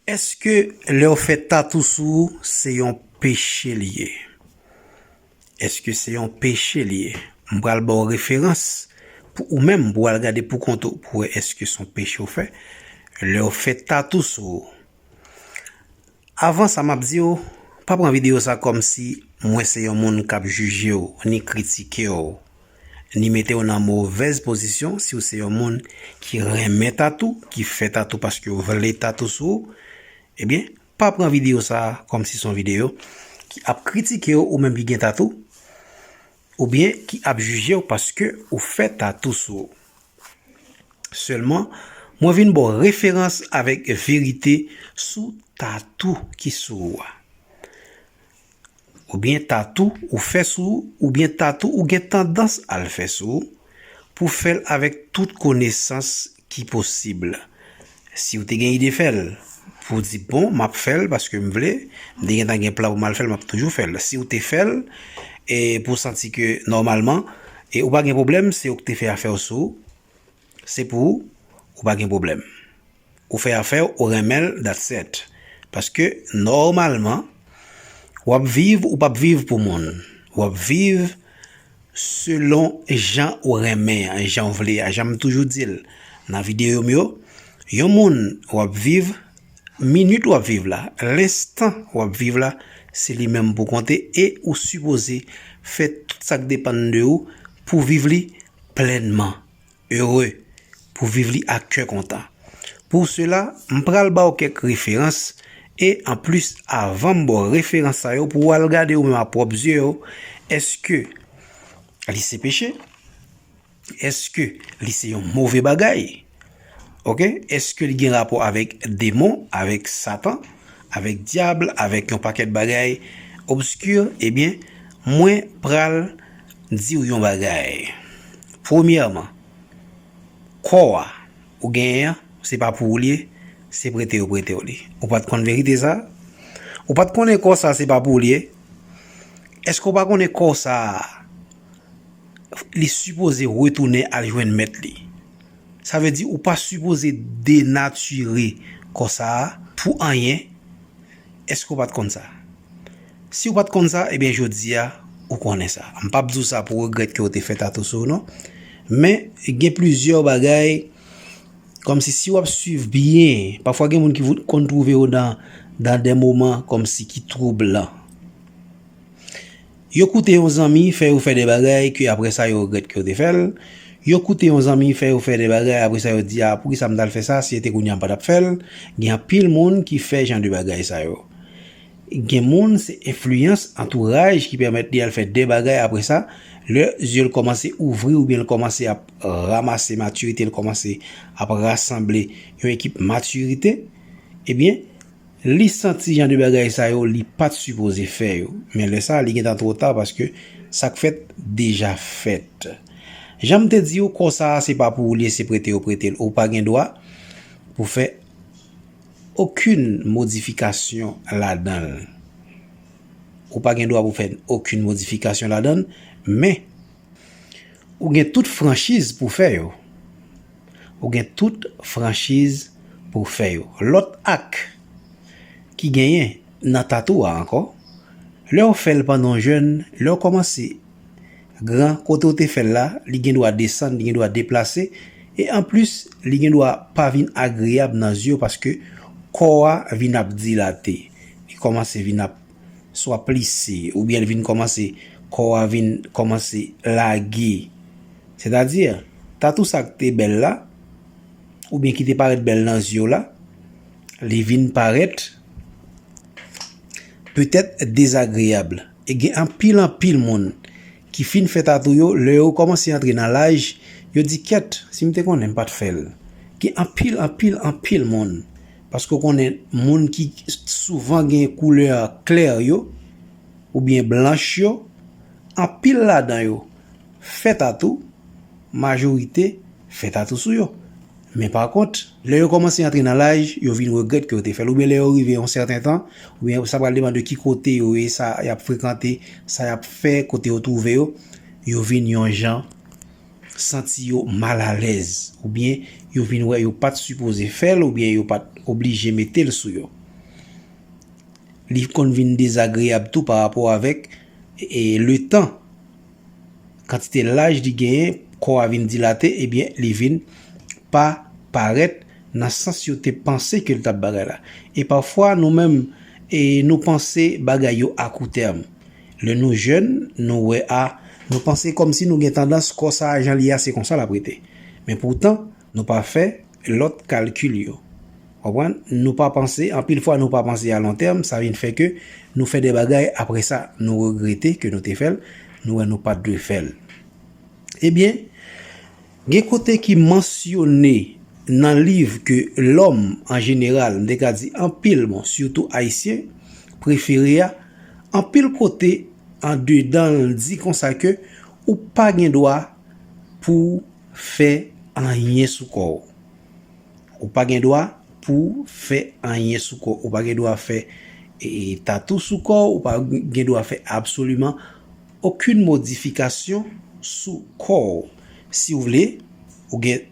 Eske lèw fè tatou sou ou se yon peche li ye? Eske se yon peche li ye? M pral baw referans pou ou menm pou al gade pou kont ou pou wè eske son peche ou fè lèw fè tatou sou ou. Avan sa map diw pa pran video sa kòmsi mwen se yon moun kap jijew ni kritikew. Li mete w nan movèz pozisyon si w se yon moun ki renmen tatou, ki fè tatou paske w vle tatou sou ou, ebyen pa pran videyo sa a kòm si se yon videyo ki ap kritike w ou menm ki gen tatou, oubyen ki ap jije w paske ou fè tatou sou ou. Sèlman, mwen vin ba w referans avèk verite sou tatou ki sou ou a. Oubyen tatou ou fè sou ou oubyen tatou ou gen tandans al fè sou ou pou fèl avèk tout konesans ki posib siw te gen ide fèl pou di bon map fèl paske m vle m te gentan gen plan pou mal fèl map toujou fèl siw te fèl e pou w santi ke nòmalman e ou pa gen pwoblèm se ou k te fè afèw sou ou se pou ou ou pa gen pwoblèm Ou fè afèw ou renmenl dat set. Paske nòmalman wap viv ou pap viv pou moun. Wap viv selon jan ou renmen an e janw vle a. Janm toujou dil nan video m yo. Yon moun wap viv minit wap viv la, lenstan wap viv la se li menm pou konte e ou sipoze fè tout sak depann de ou pou viv li plenman. Heureux, pou viv li ak kè kontan. Pour cela, m pral ba w kèk referans, e anplis avan m ba w referans sa yo pou w al gade ou menm a pwòp zye w, èske li se peche? Èske li se yon move bagay? Ok, èske li gen rapò avèk demon, avèk satan, avèk dyab, avèk yon pakèt bagay obscur? Ebyen, mwen pral diw yon bagay premyèman kò a ou genyen an se pa pou ou li ye se prete yo pretew li ou pat konn verite sa ou pat konnen kò sa se pa pou ou li ye èske ou pa konnen kò sa li sipoze retounen al jwenn mèt li sa vle di ou pa sipoze denatire kò sa pou anyen èske ou pat konn sa. Si ou pat konn sa, ebyen jodi a ou konnen sa. M pap di w sa pou w regrèt ke w te fè tatou sou ou non. Men, gen plizyè bagay, kòmsi si w ap swiv byen, pafwa gen moun ki konn twouve yo nan dan de moman kòmsi ki twoublan. Yo koute yon zanmi fè yo fè de bagay ke apre sa yo regrèt ke yo te fè l. Yo koute yon zanmi fè yo fè de bagay apre sa yo di a, poukisa m t al fè sa, si se te kounye a m pa t ap fè l. Gen anpil moun ki fè jan de bagay sa yo. Gen moun se enfliyans antouraj ki pèmèt li al fè de bagay apre sa, lè zye l kòmanse ouvri oubyen l kòmanse ap ramase matirite, l kòmanse ap rasanble yon ekip matirite, ebyen li santi jan de bagay sa yo li pa t sipoze fè yo. Men lè sa li gen tan twò ta paske sa k fèt deja fèt. Jan m te di ou kò sa a se pa pou ou li e se prete yo prete l. Ou pa gen dwa pou fè. Okenn modifikasyon ladan l. Ou pa gen dwa pou fè okenn modifikasyon ladan l, men ou gen tout franchiz pou fè yo. Ou gen tout franchiz pou w fè yo. Lòt ak ki genyen nan tatoo a ankò, lè w fè l pandan w jèn, lè w kòmanse. Gran, kote ou te fè l la, li gen dwa desann, li gen dwa deplase, e anplis, li gen dwa pa vin agreyab nan zye w paske kò a vin ap dilate, li kòmanse vin ap swa plise, oubyen li vin kòmanse, kò a vin kòmanse lage. Sètadi, tatou sa k te bèl la, oubyen ki te parèt bèl nan zye w la, li vin parèt petèt dezagreyab. E gen anpil anpil moun ki fin fè tatou yo, lè yo kòmanse antre nan laj, yo di kèt, si m te konnen m pa t fè l. Gen anpil anpil anpil moun, paske ou konnen moun ki souvan gen koulè klè yo, oubyen blanch yo, anpil ladan yo. fè tatou, majorite fè tatou sou yo. Men pa kont, lè yo kòmanse antre nan laj, yo vin regrèt ke yo te fè l. Oubyen lè yo rive yon sèten tan, oubyen sa pral depan de ki kote yo ye, sa y ap frekante, sa y ap fè, kote yo twouve yo, yo vin yon jan santi yo mal alèz. Oubyen yo vin wè yo pa t sipoze fè l, oubyen yo pa t oblije mete l sou yo. Li konn vin dezagreyab tou pa rapò avèk letan. kantite laj li genyen, kò a vin dilate, ebyen li vin pa parèt nan sans yo te panse ke li t ap bagay la. E pafwa nou menm, nou panse bagay yo a kou tèm. Lè nou jèn, nou wè a, nou panse kòmsi nou gen tandans kò sa a jan li a se konsa l ap rete. Men poutan, Nou pa fè lòt kalkil yo. Konprann? Nou pa panse, anpil fwa nou pa panse a lon tèm, sa vin fè ke nou fè de bagay apre sa nou regrete ke nou te fè l, nou wè nou pa t dwe fè l. Ebyen, gen kote ki mansyone nan liv ke lòm an jeneral, m te ka di anpil moun, sitou Ayisyen, prefere a, anpil kote andedan l di konsa ke ou pa gen dwa pouw fè anyen sou kò w ou pa gen dwa pouw fè anyen sou kò ou pa gen dwa fè tatou sou kò w ou pa gen dwa fè absoliman okin modifikasyon sou kò w si w vle ou gen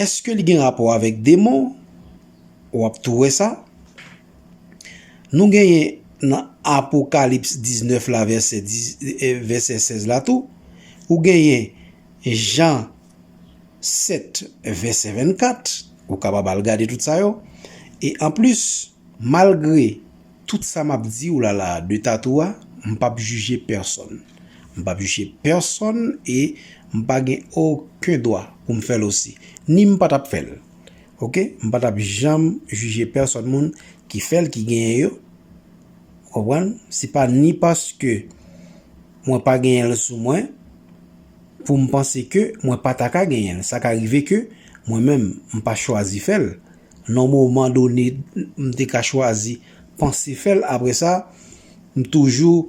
Eske li gen rapò avèk demon? Ou ap tou wè sa. Nou genyen nan Apokalips 19 la vèsè 16 la tou. Ou genyen Jan 7 vèsè 24. Ou kapab al gade tout sa yo. E anplis. Malgre tout sa map diw la la de tatou a mpap jije pèsòn mpap jije pèsòn e mpa gen oken dwa poum fèl osi ni mpa tap fèl ok mpa tap janm jije pèsòn moun ki fèl ki genyen yo ou konprann se pa ni paske mwen pa genyenl sou mwen poum panse ke mwen pa ta ka genyenl sa ka rive ke mwen menm mpa chwazi fèl. Nan moman done, m te ka chwazi panse fè l. Apre sa, m toujou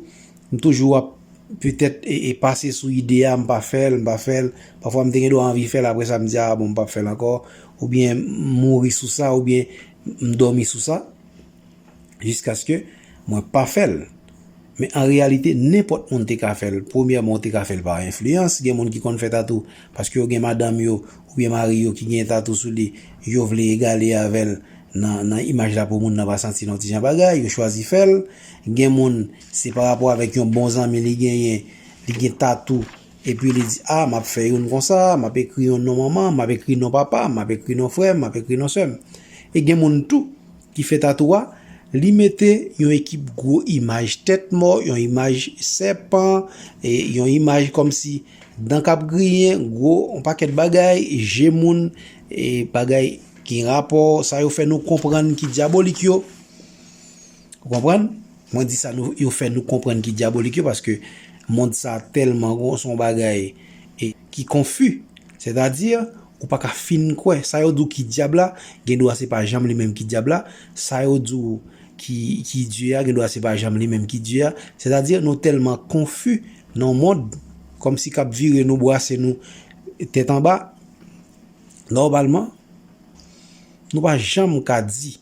m toujou ap petèt pase sou ide a, m pa fè l, m pa fè l. Pafwa m te gendwa anvi fè l, apre sa m di, a bon m pap fè l ankò. Oubyen m mouri sou sa, oubyen m dòmi sou sa. jiskaske mwen pa fè l. Men an reyalite nenpòt moun te ka fè l. Premyèman ou te ka fè l pa enfliyans, gen moun ki konn fè tatou paske yo gen madanm yo oubyen mari yo ki gen tatou sou li, yo vle egale avè l nan imaj la pou moun nan pa santi l yon ti jan bagay, yo chwazi fè l. Gen moun se pa rapò avèk yon bon zanmi li genyen, li gen tatou epi li di a m ap fè youn konsa, m ap ekri yon non manman m, m ap ekri non papa m, m ap ekri non frè m, m ap ekri non sè m. E gen moun tou Li fè tatoo a, li mete yon ekip gwo imaj tèt mò, yon imaj sèpan, e yon imaj kòmsi dan k ap griyen, gwo yon pakèt bagay, je moun, e bagay ki gen rapò, sa yo fè nou konprann ki dyabolik yo. Ou konprann? Mwen di sa yo fè nou konprann ki dyabolik yo paske mond sa tèlman gon son bagay ki konfi. Sètadi. Ou pa ka fin kwè, sa yo di w ki dyab la, gen dwa se pa janm li menm ki dyab la, sa yo di w ki Dye a, gen dwa se pa janm li menm ki Dye a, sètadi nou tèlman konfi nan yon mond kòmsi k ap vire nou, bwase nou tèt anba, nòmalman nou pa janm ka di.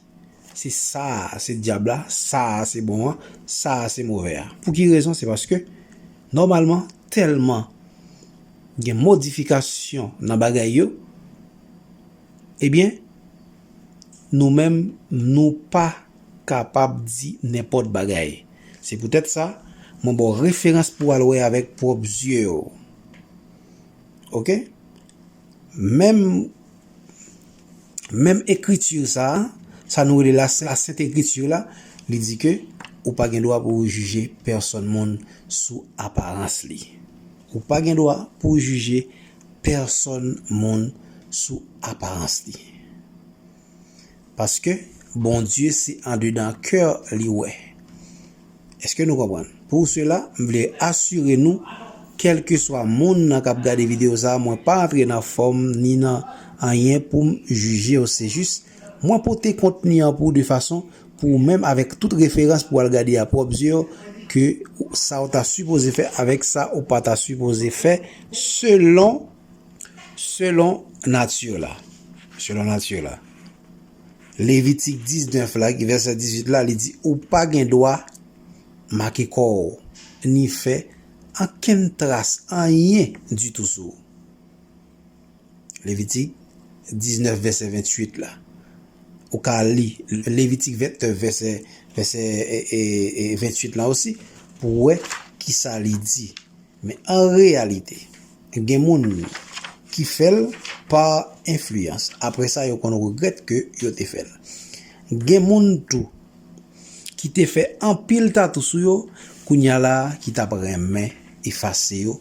Se sa a se dyab la, sa a se bon an, sa a se movè a. Pou ki rezon? Se paske nòmalman tèlman gen modifikasyon nan bagay yo, ebyen nou menm nou pa kapab di nenpòt bagay. Se poutèt sa mwen ba w referans pou w al wè avèk pwòp zye w. Ok? Menm. Menm ekriti sa a, sa nou rele la Sent Ekriti la, li di ke ou pa gen dwa pou ou jije pèsòn moun sou aparans li. Ou pa gen dwa pou ou jije pèsòn moun sou aparans li. Paske Bondye se andedan kè li wè. Eske nou konprann? Pou sela, m vle asire nou, kèlkeswa moun nan kap gade video sa, mwen pa antre nan fòm ni nan anyen poum jijew se jis mwen pote kontni an pou ou de fason pou ou menm avèk tout referans pou al gade a pwòp zye w ke sa ou ta sipoze fè avèk sa ou pa ta sipoze fè selon selon nati w la selon nati w la. Levitik 19 la, ki vèsè 18 la, li di, Ou pa gen dwa make kò ou, ni fè ankenn tras anyen ditou sou ou. Levitik 19 vèsè 28 la. Ou ka li Levitik 29 vèsè 28 la osi, pou wè kisa li di. Men an reyalite, gen moun ki fè l pa enfliyans, apre sa yo konn regrèt ke yo te fè l. Gen moun tou ki te fè anpil tatou sou yo, kounye a la ki t ap renmen efase yo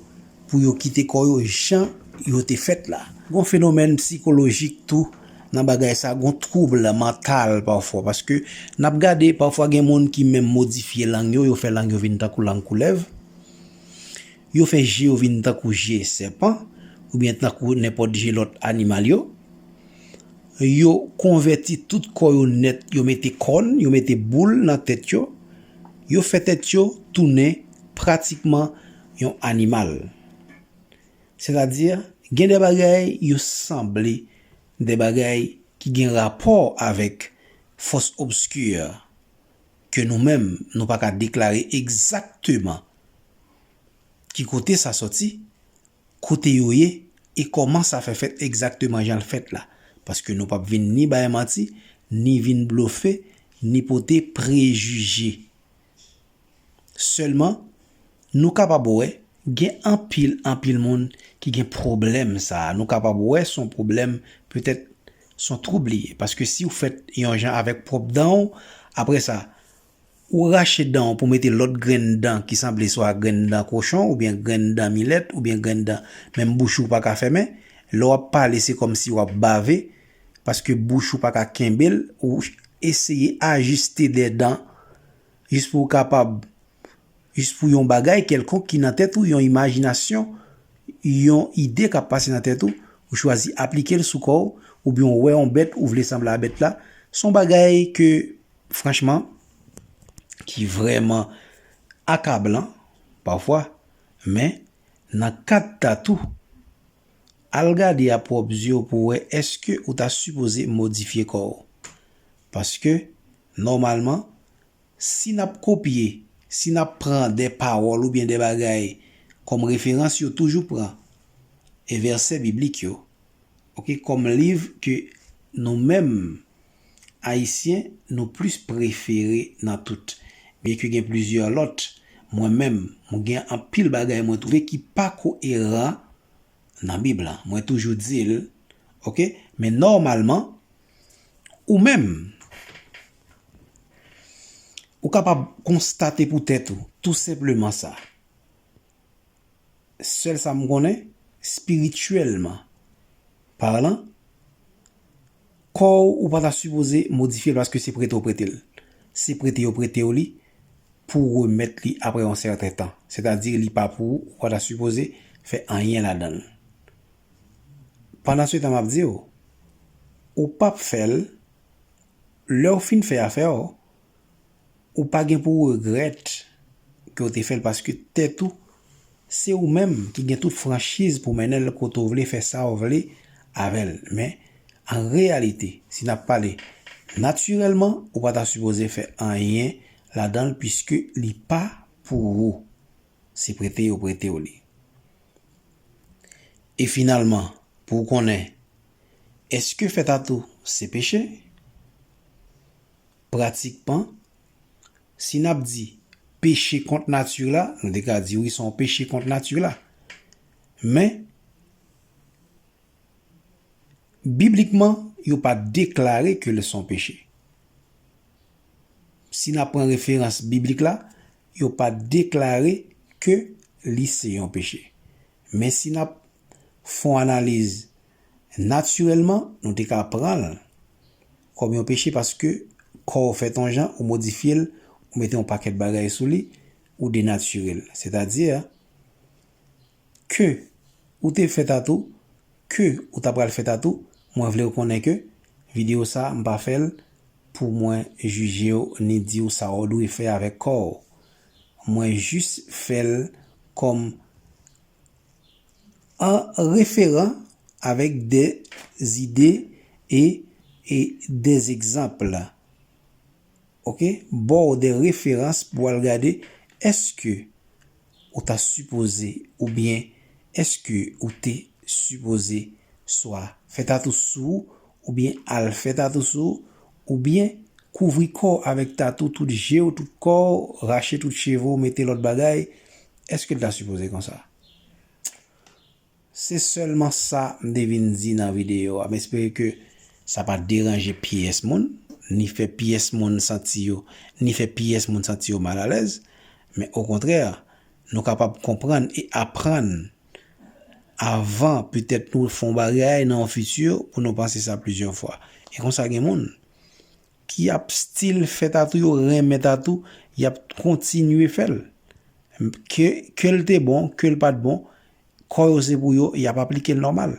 pou yo kite kò yo jan yo te fèt la. Gon fenomèn psikolojik tou nan bagay sa, gon twoub mantal pafwa, paske n ap gade pafwa gen moun ki menm modifye lang yo, yo fè lang yo vin tankou lang koulèv. Yo fè je yo vin tankou je sèpan oubyen tankou nenpòt je lòt animal yo. Yo konvèti tout kò yo nèt, yo mete kòn, yo mete boul nan tèt yo. Yo fè tèt yo tounen pratikman yon animal. Sètadi, gen de bagay yo sanble, de bagay ki gen rapò avèk fòs obskir. ke nou menm nou pa ka deklare egzakteman ki kote sa sòti, kote yo ye e kòman sa fè fèt egzakteman jan l fèt la. Paske nou pap vin ni bay manti, ni vin blofe, ni pote prejije. Sèlman, nou kapab wè gen anpil, anpil moun ki gen pwoblèm sa a. Nou kapab wè son pwoblèm petèt. Son twoub li ye paske siw fèt yon jan avèk pwòp danw aprè sa ou rache danw pou mete lòt grenn dan ki sanble swa grenn dan kochon oubyen grenn dan milèt oubyen grenn dan menm bouch ou paka fèmen lè wap pale se kòmsi wap bave paske bouch ou paka kenbel ou eseye ajiste de dan jis pouw kapab Jis pou yon bagay kèlkonk ki nan tèt ou, yon imajinasyon, yon ide k ap pase nan tèt ou, ou chwazi aplike l sou kò w, oubyen w wè yon bèt ou vle sanble a bèt la, s on bagay ke franchman ki vrèman akablan pafwa men nan kad tatou al gade a pwòp zye w pou w wè èske ou ta sipoze modifye kò w paske nòmalman Si n ap kopye, si n ap pran de pawòl oubyen de bagay kòm referans yo toujou pran e vèsè biblik yo ok kòm liv ke nou menm Ayisyen nou plis prefere nan tout byen ke gen plizyè lòt mwen menm m gen anpil bagay mwen twouve ki pa koeran nan bib la mwen toujou di l ok men nòmalman ou menm. Ou kapab konstate pou tèt ou, tou senpleman sa. Sèl sa m konnen, spirityèlman palan, kò ou ou pa ta sipoze modifye l paske se prete ou prete l. Se prete yo prete ou li pou ou remèt li apre yon sèten tan. Sètadi li pa pou ou, ou pa ta sipoze fè anyen ladan l. Pandan se tan m ap di ou, ou p ap fè l Lè ou fin fè afè w, ou pa gen pou w regrèt ke w te fè l paske tèt ou se ou menm ki gen tout franchiz pou mennen l kote w vle fè sa w vle avè l men an reyalite si n ap pale natirèlman ou pa ta sipoze fè anyen ladan l piske li pa pou ou se prete yo prete w li e finalman pou w konnen. Èske fè tatou se peche? Pratikman, si n ap di peche kont nati la, nou te ka di wi se yon peche kont nati la. Men, biblikman, yo pa deklare ke li se yon peche. Si n ap pran referans biblik la, yo pa deklare ke li se yon peche. Men si n ap fon analiz natirèlman nou te ka pran l kòm yon peche paske kò w fèt yon jan, ou modifye l, ou mete yon pakèt bagay sou li, ou denatire l. Sètadi, ke ou te fè tatou, ke ou ta pral fè tatou, mwen vle w konnen ke videyo sa a m pa fè l pou mwen jije w ni di w sa w dwe fè avèk kò w. Mwen jis fè l kòm. an referan avèk de zide e de egzanp. Ok ba w de referans pou w al gade èske ou ta sipoze oubyen èske ou te sipoze swa fè tatou sou ou oubyen al fè tatou sou ou. Oubyen, kouvri kò w avèk tatou tout je w, tout kò w, rache tout cheve w, mete lòt bagay, èske l ta sipoze konsa? Se sèlman sa m te vin di nan videyo a. M espere ke sa pa deranje pyès moun, ni fè pyès moun santi yo, ni fè pyès moun santi yo malalèz. Men okontrè, nou kapab konprann e aprann. avan petèt nou fè yon bagay nan yon fiti pou nou panse sa plizyè fwa. E konsa gen moun ki ap stil fè tatou yo renmen tatou y ap kontinye fè l. Ke l te bon, ke l pa t bon, kò yo se pou yo y ap aplike l nòmal.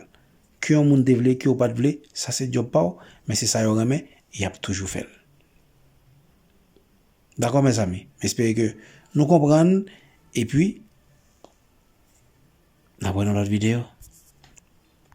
Ke yon moun te vle, ke yo pa t vle, sa se djòb pa w men se sa yo renmen y ap toujou fè l. Dakò mezanmi, m espere ke nou konprann epi n ap wè nan lòt videyo.